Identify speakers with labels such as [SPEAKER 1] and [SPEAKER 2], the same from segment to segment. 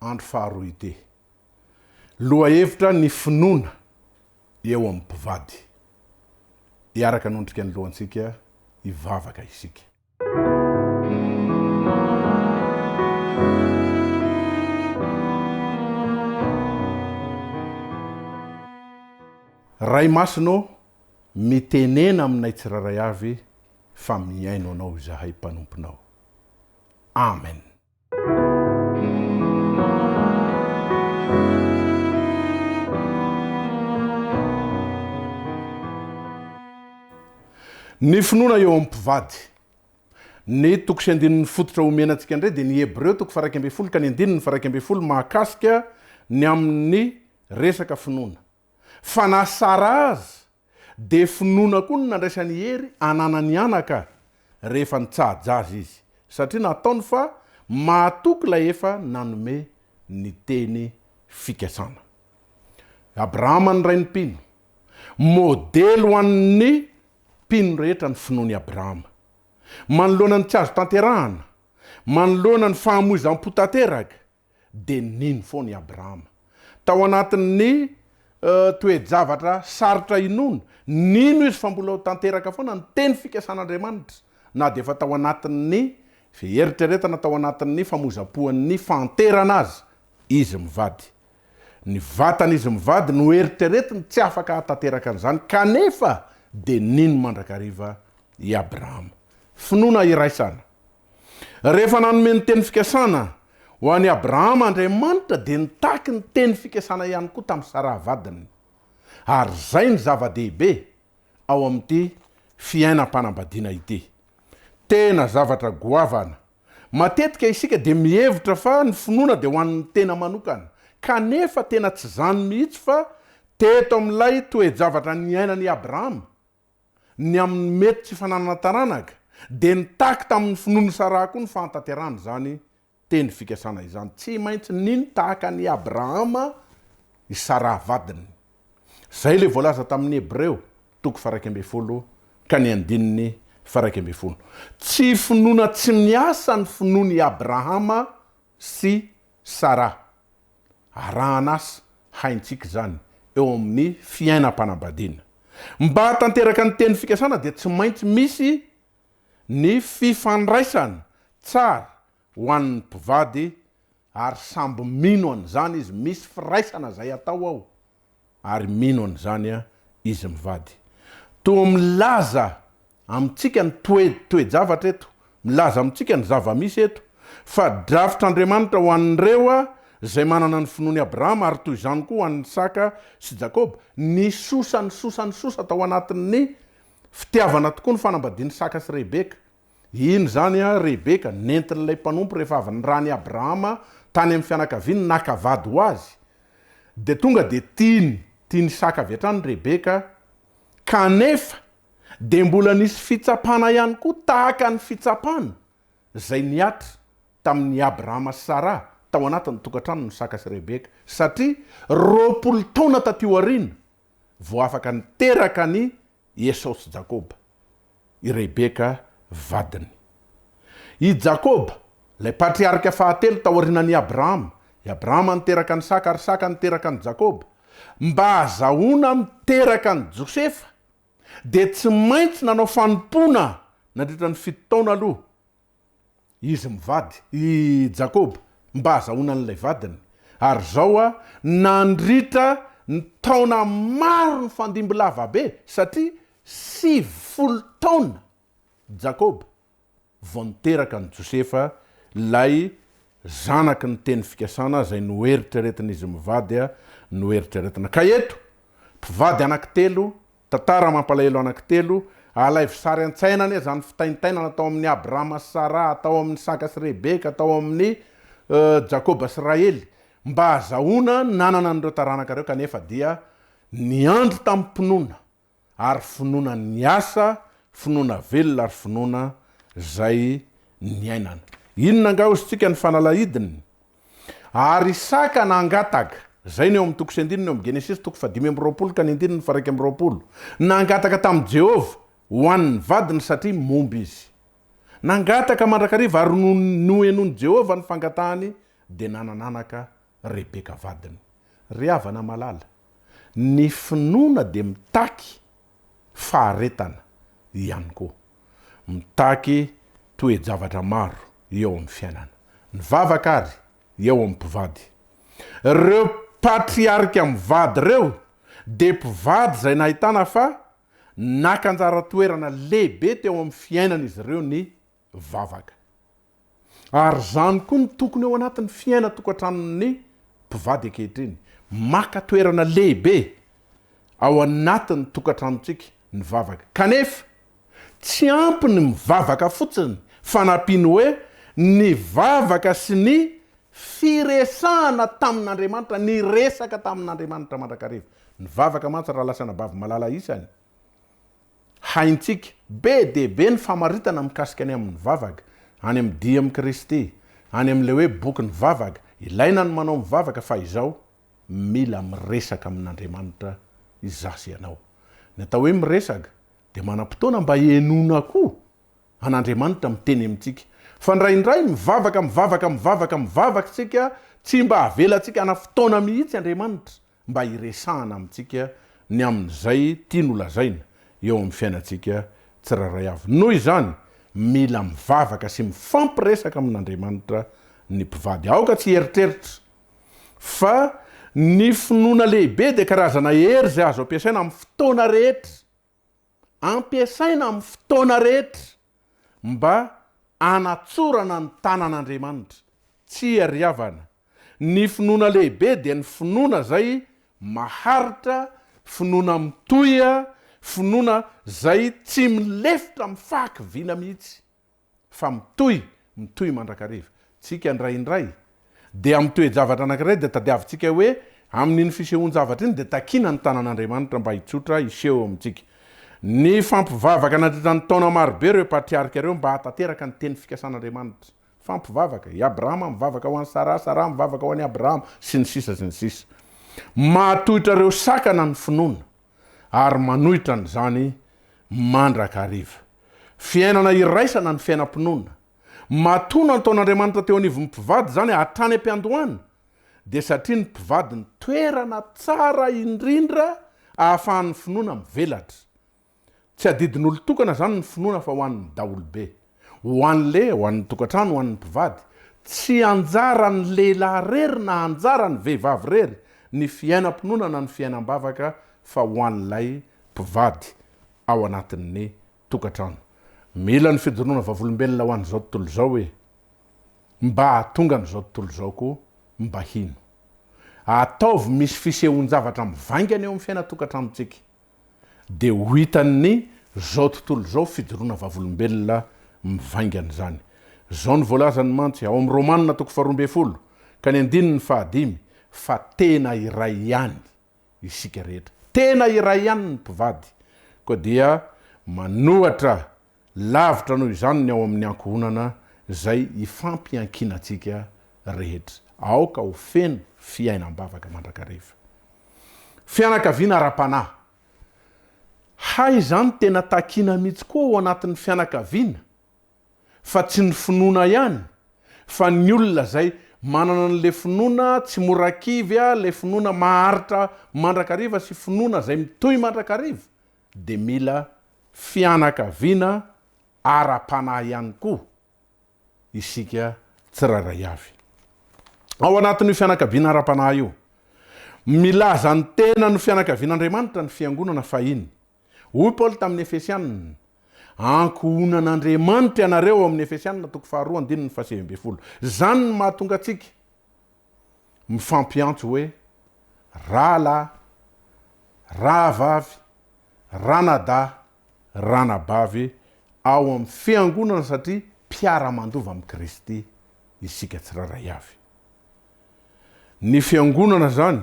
[SPEAKER 1] andro faharoa ity. Lohahevitra ny finoana eo amin'ny mpivady. Hiaraka hanondrika ny lohantsika hivavaka isika. Ray Masina ô, mitenena aminay tsirairay avy fa mihaino Anao izahay mpanomponao. Amen. Ny finoana eo amin'ny mpivady. Ny toko sy andininy fototra omena antsika indray dia ny Hebreo toko faha iraika ambin'ny folo ka ny andininy faha iraika ambin'ny folo mahakasika ny amin'ny resaka finoana. Fa na Sara aza Dia finoana koa no nandraisan'i Hery hananany anaka rehefa nitsaha-ja azy izy, satria nataony fa mahatoky ilay efa nanome ny teny fikasana. Abrahama ny rain'ny mpino. Modely ho an'ny mpino rehetra ny finoan'i Abrahama. Manoloana ny tsy azo tanterahana, manoloana ny fahamoizam-po tanteraka, dia nino foana i Abrahama. Tao anatin'ny toe-javatra sarotra inoana, nino izy fa mbola ho tanteraka foana ny teny fikasan'Andriamanitra, na dia efa tao anatin'ny fieritreretana, tao anatin'ny famoizam-poan'ny fahanterana aza izy mivady. Ny vatan'izy mivady no eritreretiny, tsy afaka hahatanteraka an'izany, kanefa dia nino mandrakariva i Abrahama. Finoana iraisana. Rehefa nanome ny teny fikasana ho an'i Abrahama Andriamanitra dia nitaky ny teny fikasana ihany koa tamin'i Saraha vadiny. Ary izay no zava-dehibe ao amin'ity fiainam-panambadiana ity. Tena zavatra goavana. Matetika isika dia mihevitra fa ny finoana dia ho an'ny tena manokana, kanefa tena tsy izany mihitsy fa teto amin'ilay toe-javatra niainan'i Abrahama. ny amin'ny mety tsy fananana taranaka, dia nitaky tamin'ny finoany ny Saraha koa ny fahatanterahana izany teny fikasana izany. Tsy maintsy nino tahaka an'i Abrahama i Saraha vadiny. Izay ilay voalaza tamin'ny Hebreo, toko faha-iraika ambin'ny folo ka ny andininy faha-iraika ambin'ny folo. Tsy finoana tsy miasa ny finoan'i Abrahama sy Sarah, arahan'asa haintsika izany eo amin'ny fiainam-panambadiana. Mba hahatanteraka ny teny fikasana dia tsy maintsy misy ny fifandraisana tsara ho an'ny mpivady ary samby mino an'izany izy, misy firaisana izay atao ao. Ary mino an'izany izy mivady. Toa milaza amintsika ny toe, toe-javatra eto, milaza amintsika ny zava-misy eto, fa drafitr'Andriamanitra ho an'ireo izay manana ny finoan'i Abrahama, ary toy izany koa ho an'i Isaka sy Jakoba. Nisosa, nisosa, nisosa tao anatin'ny fitiavana tokoa ny fanambadian'i Isaka sy Rebeka. Iny izany an, Rebeka, nentin'ilay mpanompo rehefa avy niran'i Abrahama tany amin'ny fianakaviany naka vady ho azy, dia tonga dia tiany, tian'i Isaka avy hatrany Rebeka, kanefa dia mbola nisy fitsapana ihany koa tahaka ny fitsapana izay nihatra tamin'i Abrahama sy Sara tao anatin'ny tokantranon'i Isaka sy Rebeka, satria roapolo taona taty aoriana vao afaka niteraka an'i i Esao sy Jakoba, i Rebeka vadiny. I Jakoba, ilay patriarika fahatelo taorianan' i Abrahama, i Abrahama niteraka an' Isaka ary Isaka niteraka an' i Jakoba, mba hahazahoana miteraka an' i Josefa, dia tsy maintsy nanao fanompoana nandritra ny fito taona aloha. Izy mivady, i Jakoba, mba hazahoana an'ilay vadiny. Ary izao a, nandritra ny taona maro nifandimby lava be, satria sivy folo taona Jakoba vao niteraka an'i Josefa, ilay zanaky ny teny fikasana izay noeritreretin'izy mivady, noeritreretina. Ka eto, mpivady anankitelo Tantara mampalahelo anaky telo, alaivo sary an-tsaina anie zany fitaintainana tao amin'ny Abrahama sy Saraha, tao amin'ny Isaka sy Rebeka, tao amin'ny Jakoba sy Rahely, mba hazahoana ny nanana an'ireo taranaka ireo kanefa dia niandry tamim-pinoana ary finoana niasa, finoana velona ary finoana zay niainana. Inona angaha ozintsika ny fanalahidiny? Ary Isaka nangataka. Izay no eo amin'ny toko sy andininy eo amin'ny Genesisy toko fahadimy amby roapolo ka ny andininy faha-iraika amby roapolo. Nangataka tamin'i Jehovah ho an'ny vadiny satria momba izy. Nangataka mandrakariva ary nony nohenoin'i Jehovah ny fangatahany dia nanana anaka Rebeka vadiny. Ry havana malala, ny finoana dia mitaky faharetana ihany koa. Mitaky toe-javatra maro eo amin'ny fiainana. Ny vavaka ary eo amin'ny mpivady. Ireo patriarika mivady ireo dia mpivady izay nahitana fa naka anjara toerana lehibe teo amin'ny fiainan'izy ireo ny vavaka. Ary izany koa no tokony ao anatin'ny fiainan-tokantranon'ny mpivady ankehitriny. Maka toerana lehibe ao anatin'ny tokantranontsika ny vavaka. Kanefa, tsy ampy ny mivavaka fotsiny fa nampiany hoe ny vavaka sy ny firesahana tamin'Andriamanitra, niresaka tamin'Andriamanitra mandrakariva. Ny vavaka mantsy, raha lasan'Abavy Malala isany, Haintsika be dia be ny famaritana mikasika ny amin'ny vavaka, any amin'ny Dia amin'i Kristy, any amin'ilay hoe bokin'ny vavaka, ilaina ny manao mivavaka fa izao, mila miresaka amin'Andriamanitra izaho sy ianao. Ny atao hoe miresaka dia manam-potoana mba hihenoana koa an'Andriamanitra miteny amintsika. Fa indraindray mivavaka, mivavaka, mivavaka, mivavaka isika, tsy mba avelantsika hana fotoana mihitsy Andriamanitra mba hiresahana amintsika ny amin'izay tiany holazaina eo amin'ny fiainantsika tsirairay avy. Noho izany, mila mivavaka sy mifampiresaka amin'Andriamanitra ny mpivady. Aoka tsy hieritreritra fa ny finoana lehibe dia karazana hery izay azo ampiasaina amin'ny fotoana rehetra Ampiasaina amin'ny fotoana rehetra mba hanatsorana ny tanan'Andriamanitra. Tsy iariavana. Ny finoana lehibe dia ny finoana izay maharitra, finoana mitohy, finoana izay tsy milefitra amin'ny fahakiviana mihitsy. fa mitohy, mitohy mandrakariva. Tsika indraindray dia amin'ny toe-javatra anankiray dia tadiavintsika hoe amin'iny fisehoan-javatra iny dia takiana ny tanan'Andriamanitra mba hitsotra hiseho eo amintsika. Nifampivavaka nandritra ny taona marobe ireo patriarika ireo mba hahatanteraka ny teny fikasan'Andriamanitra. Mifampivavaka. I Abrahama mivavaka ho an'i Saraha, Saraha mivavaka ho an'i Abrahama, sy ny sisa sy ny sisa. Mahatohitra ireo sakana ny finoana. ary manohitra an'izany mandrakariva. Fiainana iraisana ny fiainam-pinoana. Matoa nantaon'Andriamanitra teo anivon'ny mpivady izany hatrany am-piandohana, dia satria ny mpivady no toerana tsara indrindra ahafahan'ny finoana mivelatra. Tsy adidin'olon-tokana izany ny finoana fa ho an'ny daholobe. Ho an'ny lehilahy, ho an'ny tokantrano, ho an'ny mpivady, tsy anjaran'ny lehilahy irery na anjaran'ny vehivavy irery ny fiainam-pinoana na ny fiainam-bavaka fa ho an'ilay mpivady ao anatin'ny tokantrano. Mila ny fijoroana vavolombelona ho an'izao tontolo izao e! Mba hahatonga an'izao tontolo izao koa mba hino. Ataovy misy fisehoan-javatra mivaingana eo amin'ny fiainan-tokantranontsika. dia ho hitan'ny zao tontolo zao fijoroana vavolombelona mivaingana izany. Zao no voalazany mantsy ao amin'ny Romana toko faharoa ambin'ny folo ka ny andininy fahadimy fa tena iray ihany isika rehetra. Tena iray ihany ny mpivady koa dia manohatra Lavitra noho izany ny ao amin'ny ankohonana izay ifampiankinantsika rehetra. Aoka ho feno fiainam-bavaka mandrakariva. Fianakaviana ara-panahy. Hay izany tena takiana mihitsy koa ao anatin'ny fianakaviana fa tsy ny finoana ihany fa ny olona izay manana an'ilay finoana tsy mora kivy, ilay finoana maharitra mandrakariva sy finoana izay mitohy mandrakariva dia mila fianakaviana ara-panahy ihany koa isika tsirairay avy. Ao anatin'io fianakaviana ara-panahy io, milaza ny tenany ho fianakavian'Andriamanitra ny fiangonana fahiny. Hoy Paoly tamin'ny Efesianina, Ankohonan'Andriamanitra ianareo ao amin'ny Efesianina toko faharoa andininy fahasivy ambin'ny folo. Izany no mahatonga antsika. mifampiantso hoe, rahalahy, rahavavy, ranadahy, ranabavy ao amin'ny Fiangonana satria mpiara-mandova amin'i Kristy isika tsirairay avy. Ny Fiangonana izany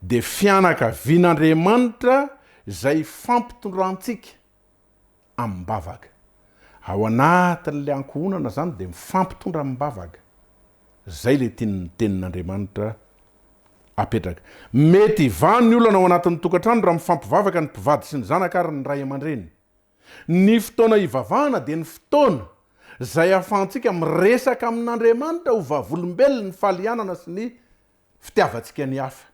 [SPEAKER 1] dia fianakavian'Andriamanitra izay ifampitondrantsika amim-bavaka. Ao anatin'ilay ankohonana izany dia mifampitondra amim-bavaka. Izay ilay tian'ny Tenin'Andriamanitra apetraka. Mety hivaha ny olana ao anatin'ny tokantrano raha mifampivavaka ny mpivady sy ny zanaka ary ny ray aman-dreny. Ny fotoana hivavahana dia ny fotoana izay ahafahantsika miresaka amin'Andriamanitra ho vavolombelon'ny falianana sy ny fitiavantsika ny hafa.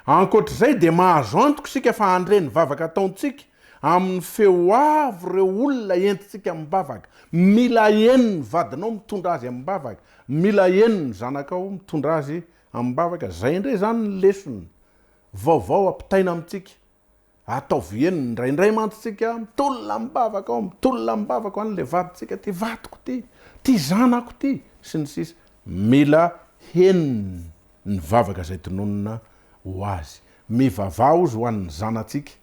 [SPEAKER 1] Ankoatra izay dia mahazo antoka isika fa handre ny vavaka ataontsika amin'ny feo avo ireo olona entintsika amim-bavaka. Mila heno ny vadinao mitondra azy amim-bavaka, mila heno ny zanakao mitondra azy amim-bavaka. Izay indray izany ny lesona vaovao ampitaina amintsika Ataovy eny, indraindray mantsy tsika mitolona am-bavaka ao, mitolona am-bavaka ao an'ilay vadintsika ty, vadiko ty, ty zanako ty, sy ny sisa Mila henony ny vavaka izay tononina ho azy. Mivavaha ozy ho an'ny zanatsika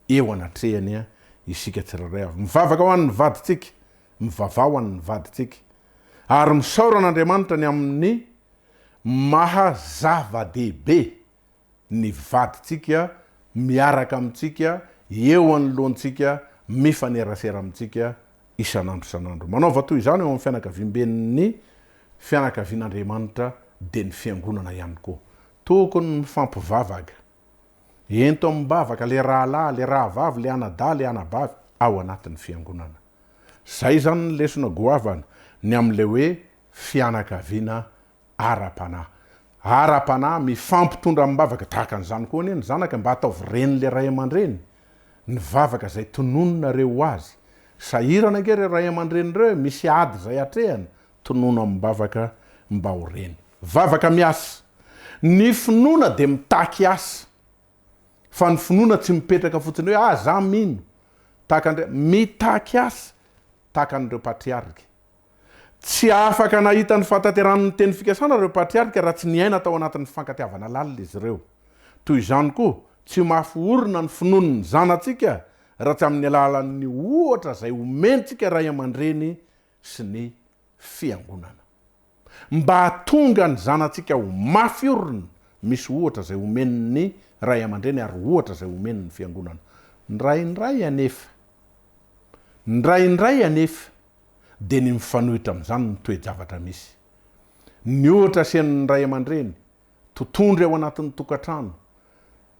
[SPEAKER 1] eo anatrehany isika tsirairay avy. Mivavaka ho an'ny vadintsika, mivavaha ho an'ny vadintsika, ary misaora an'Andriamanitra ny amin'ny maha zava-dehibe ny vadintsika miaraka amintsika, eo anoloantsika, mifanerasera amintsika isan'andro isan'andro. Manaova toy izany eo amin'ny fianakaviamben'ny fianakavian'Andriamanitra, dia ny Fiangonana ihany koa. Tokony mifampivavaka. Ento amim-bavaka ilay rahalahy, ilay rahavavy, ilay anadahy, ilay anabavy ao anatin'ny Fiangonana. Izay izany ny lesona goavana, ny amin'ilay hoe fianakaviana ara-panahy. Ara-panahy, mifampitondra amim-bavaka tahaka an'izany koa anie ny zanaka mba hataovy ren'ilay ray aman-dreny ny vavaka izay tonononareo ho azy. Sahirana ange ireo ray aman-dreny ireo e, misy ady izay atrehany, tonono amim-bavaka mba ho reny. Vavaka miasa. Ny finoana dia mitaky asa, fa ny finoana tsy mipetraka fotsiny hoe ah za mino tahaka Andriamanitra. Mitaky asa tahaka an'ireo patriarika. Tsy afaka nahita ny fahatanterahan'ny teny fikasana ireo patriarika raha tsy niaina tao anatin'ny fifankatiavana lalina izy ireo. Toy izany koa, tsy mafy orina ny finoan'ny zanatsika raha tsy amin'ny alalan'ny ohatra izay omentsika ray aman-dreny sy ny Fiangonana. Mba hahatonga ny zanatsika ho mafy orina, misy ohatra izay omen'ny ray aman-dreny ary ohatra izay omen'ny Fiangonana. Indraindray anefa. Indraindray anefa. dia ny mifanohitra amin'izany ny toe-javatra misy. Ny ohatra asian'ny ray aman-dreny, totondry ao anatin'ny tokantrano,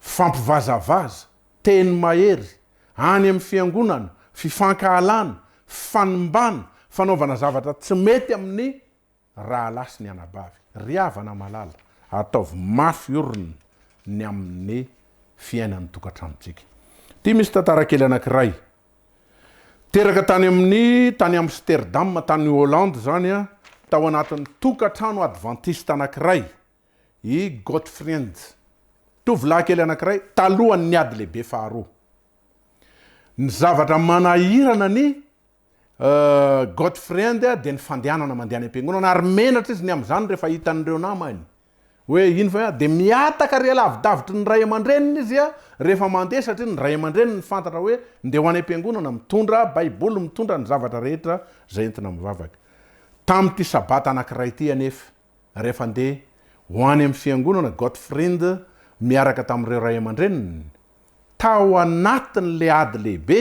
[SPEAKER 1] fifampivazavaza, teny mahery, any amin'ny fiangonana, fifankahalana, fifanimbana, fanaovana zavatra tsy mety amin'ny. Rahalahy sy ny anabavy, ry havana malala, ataovy mafy orina ny amin'ny fiainan'ny tokantranontsika. Ity misy tantara kely anankiray. Teraka tany amin'ny tany Amsterdam, tany Hollande izany, tao anatin'ny tokantrano advantista anankiray i Gottfriend, tovolahy kely anankiray, talohan'ny Ady Lehibe Faharoa. Ny zavatra manahirana ny Gottfriend dia ny fandehanana mandeha any am-piangonana ary menatra izy ny amin'izany rehefa hita an'ireo namany. Hoe iny ve? Dia mihataka ary lavidavitry ny ray aman-dreniny izy rehefa mandeha satria ny ray aman-dreniny fantatra hoe ndeha ho any am-piangonana, mitondra Baiboly, mitondra ny zavatra rehetra izay entina amin'ny vavaka. Tamin'ity Sabata anankiray ity anefa, rehefa ndeha ho any amin'ny fiangonana Gottfriend miaraka tamin'ireo ray aman-dreniny, tao anatin'ilay ady lehibe,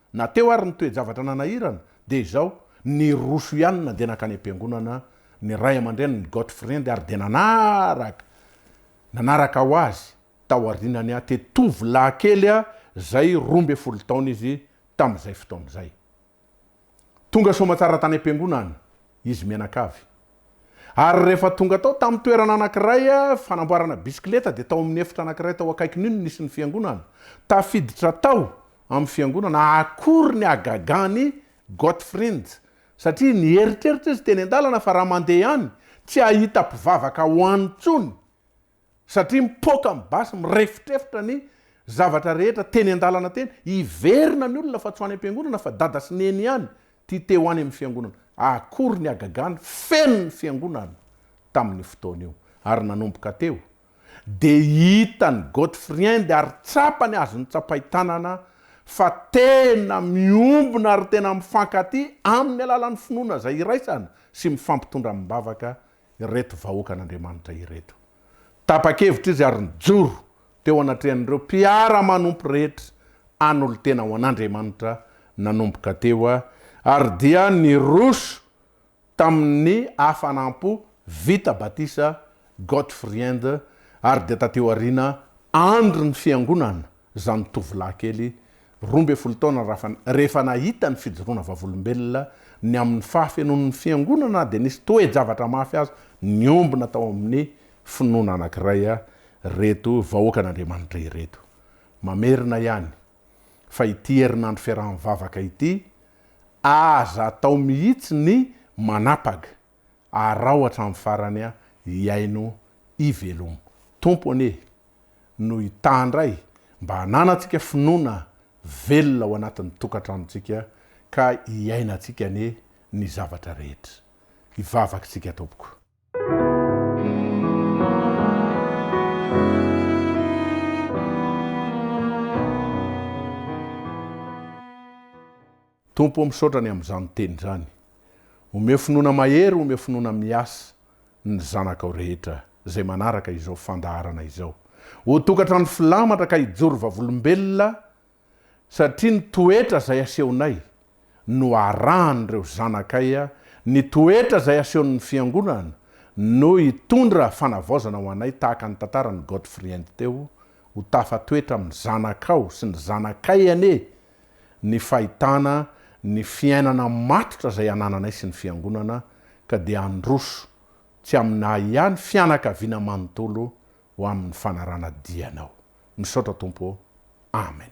[SPEAKER 1] Na teo ary ny toe-javatra nanahirana dia izao, niroso ihany na dia nankany am-piangonana ny ray aman-drenin'i Gottfried ary dia nanaraka nanaraka ho azy tao aorianany aho te tovolahy kely izay roa ambin'ny folo taona izy tamin'izay fotoana izay. Tonga soamantsara tany am-piangonana. izy mianakavy. Ary rehefa tonga tao tamin'ny toerana anankiray fanamboarana bisikileta dia tao amin'ny efitra anankiray tao akaikin'io no nisy ny fiangonana. Tafiditra tao amin'ny fiangonana akory ny hagagan'i Gottfrind satria nieritreritra izy teny an-dalana fa raha mandeha any tsy hahita mpivavaka ao any intsony. satria mipoaka amin'ny basy, mirefotrefotra ny zavatra rehetra teny an-dalana teny, hiverina ny olona fa tsy ho any am-piangonana fa dada sy neny ihany tia te ho any amin'ny fiangonana. Akory ny hagagana, feno ny fiangonana tamin'io fotoana io. Ary nanomboka teo dia hitan'i Gottfriend ary tsapany azon'ny tsapain-tanana fa tena miombona ary tena mifankatia amin'ny alalan'ny finoana izay iraisana sy mifampitondra amim-bavaka ireto vahoakan'Andriamanitra ireto. Tapa-kevitra izy ary nijoro teo anatrehan'ireo mpiara-manompo rehetra hanolo-tena ho an'Andriamanitra nanomboka teo ary dia niroso tamin'ny hafanam-po vita batisa Gottfriend ary dia taty aoriana andron'ny Fiangonana Zanitovolahy kely roa ambin'ny folo taona Rafana, rehefa nahita ny fijoroana vavolombelona ny amin'ny fahafenoan'ny Fiangonana dia nisy toe-javatra mafy azo niombona tao amin'ny finoana anankiray ireto vahoakan'Andriamanitra ireto. Mamerina ihany fa ity herinandro fiaraha-mivavaka ity, aza atao mihitsy ny manapaga. arao hatramin'ny farany aho hihaino hivelomo Tompo anie no hitandray mba hananantsika finoana velona ao anatin'ny tokantranontsika ka hiainantsika anie ny zavatra rehetra hivavaka isika Tompoko. Tompo o misaotra ny amin'izany teny izany. Omeo finoana mahery omeo finoana miasa ny zanakao rehetra izay manaraka izao fandaharana izao. Ho tokatrano filamatra ka hijoro vavolombelona satria ny toetra izay asehonay no arahan'ireo zanakay ny toetra izay asehon'ny fiangonana no hitondra fanavaozana ho anay tahaka ny tantaran'i Godfriend teo ho tafa toetra amin'ny zanakao sy ny zanakay anie ny fahitana ny fiainana matotra izay anananay sy ny Fiangonana ka dia handroso tsy aminay ihany fianakaviana manontolo ho amin'ny fanarana dianao. Misaotra Tompo ô. Amen.